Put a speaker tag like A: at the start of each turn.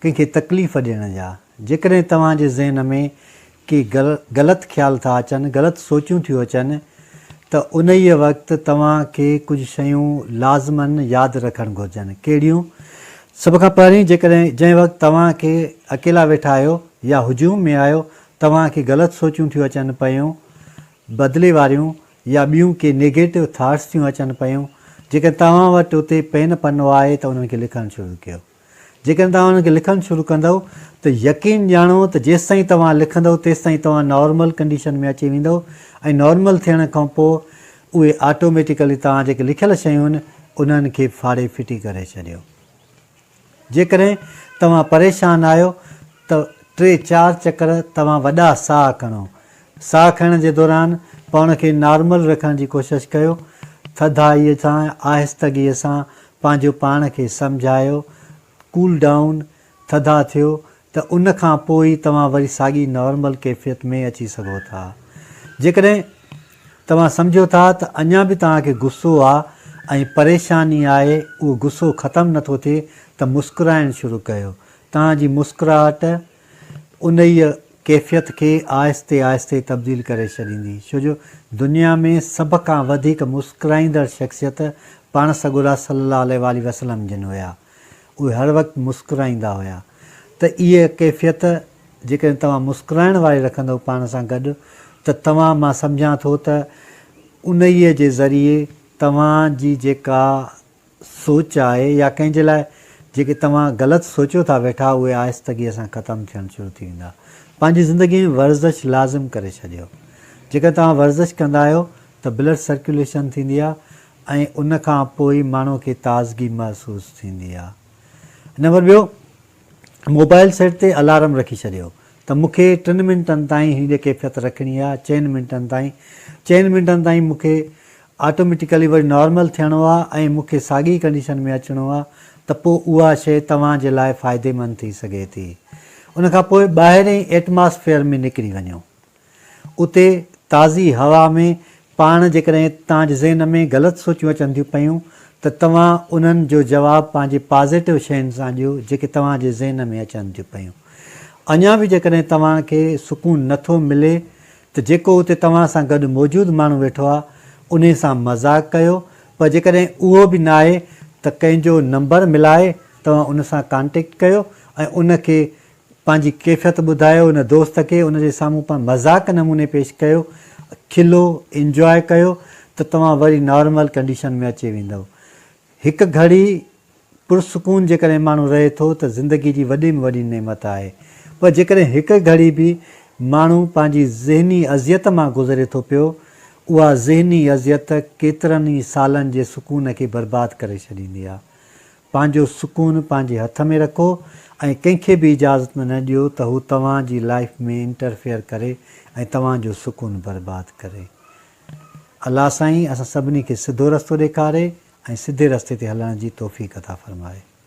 A: ڪنهن کي تڪليف ڏيڻ جا. جيڪڏهن توهان جي ذهن ۾ ڪي غلط خيال ٿا اچن، غلط سوچون ٿيون اچن ته انهيء وقت توهان کي ڪجهه شيون لازمن ياد رکڻ گهرجن. ڪهڙيون؟ سڀ کان پهرين، جيڪڏهن جنهن وقت توهان کي اڪيلا ويٺا آهيو يا هجوم ۾ آهيو، توهان کي غلط سوچون ٿيون اچن پيون، بدلي واريون يا ٻيون ڪي نيگيٽو ٿاٽس ٿيون اچن پيون، جيڪڏهن توهان وٽ اتي پين پنو آهي ته انهن کي لکڻ شروع ڪيو. جيڪڏهن توهان ان کي لکڻ شروع ڪندؤ ته يقين ڄاڻو ته جيستائين توهان لکندؤ تيستائين توهان نارمل ڪنڊيشن ۾ اچي ويندؤ ۽ نارمل ٿيڻ کانپوء اهي آٽوميٽيڪلي توهان جيڪي لکيل شيون آهن انهن کي ڦاڙي ڦٽي ڪري ڇڏيو. جيڪڏهن توهان پريشان آهيو ته ٽي چار چڪر توهان وڏا ساهه کڻو ساهه کڻڻ جي دوران پاڻ کي نارمل رکڻ جي ڪوشش ڪيو، ٿڌائيء سان آهستگيء سان پنهنجو پاڻ کي سمجهايو، ڪول ڊائون، ٿڌا ٿيو ته ان کان پوء ئي توهان وري ساڳي نارمل ڪيفيت ۾ اچي سگهو ٿا. جيڪڏهن توهان سمجهو ٿا ته اڃا به توهان کي غصو آ ۽ پريشاني آهي، اهو غصو ختم نٿو ٿئي ته مسڪرائڻ شروع ڪيو، توهان جي مسڪراهٽ انهيء ڪيفيت کي آهستي آهستي تبديل ڪري ڇڏيندي، ڇو جو دنيا ۾ سڀ کان وڌيڪ مسڪرائيندڙ شخصيت پاڻ سڳورا صلّي اللّٰه عليه واٰله وسلّم جن هيا. اهي هر وقت مسڪرائيندا هيا. ته اهيء ڪيفيت جيڪڏهن توهان مسڪرائڻ واري رکندؤ پاڻ سان گڏ ته توهان مان سمجهان ٿو ته انهيء جي ذريعي توهان جي جيڪا سوچ آهي يا ڪنهن جي لاء جيڪي توهان غلط سوچيو ٿا ويٺا اهي آهستگيء سان ختم ٿيڻ شروع ٿي ويندا. پنهنجي زندگيء ۾ ورزش لازم ڪري ڇڏيو. جيڪڏهن توهان ورزش ڪندا آهيو ته بلڊ سرڪيوليشن ٿيندي آهي ۽ ان کان پوء ماڻهوء کي تازگي محسوس ٿيندي آهي. نمبر ٻيو، موبائل سيٽ تي الارم رکي ڇڏيو ته مون کي ٽن منٽن تائين هي جي ڪيفيت رکڻي آهي چئن منٽن تائين چئن منٽن تائين مون کي آٽوميٽيڪلي وري نارمل ٿيڻو آهي ۽ مون کي ساڳي ڪنڊيشن ۾ اچڻو آهي ته پوء اها شيء توهان جي لاء فائديمند ٿي سگهي ٿي ان کان پوء ٻاهرئين ايٽماسفيئر ۾ نڪري وڃو اتي تازي هوا ۾ پاڻ جيڪڏهن توهان جي ذهن ۾ غلط سوچون اچن ٿيون پيون ته توهان انهن جو جواب پنهنجي پازيٽو شين سان ڏيو جيڪي توهان جي ذهن ۾ اچن ٿيون پيون. اڃا به جيڪڏهن توهان کي سڪون نه ٿو ملي ته جيڪو اتي توهان سان گڏ موجود ماڻهو ويٺو آهي انهي سان مذاق ڪيو پر جيڪڏهن اهو به ناهي ته ڪنهن جو نمبر ملائي توهان ان سان ڪانٽيڪٽ ڪيو ۽ ان کي پنهنجي ڪيفيت ٻڌايو هن دوست کي ان جي سامهون پنهن مذاق نموني پيش ڪيو کلو انجواء ڪيو ته توهان وري نارمل ڪنڊيشن ۾ اچي ويندؤ هڪ گهڙي پرسڪون جيڪڏهن ماڻهو رهي ٿو ته زندگي جي وڏي ۾ وڏي نعمت آهي پر جيڪڏهن هڪ گهڙي به ماڻهو پنهنجي ذهني اذيت مان گذري ٿو پيو اها ذهني اذيت ڪيترن ئي سالن جي سڪون کي برباد ڪري ڇڏيندي آهي پنهنجو سڪون پنهنجي هٿ ۾ رکو ۽ ڪنهن کي به اجازت نه ڏيو ته هو توهان جي لائيف ۾ انٽرفيئر ڪري ۽ توهان جو سڪون برباد ڪري. الله سائين اسان سڀني کي سڌو رستو ڏيکاري ۽ سڌي رستي تي هلڻ جي توفيق عطا فرمائي.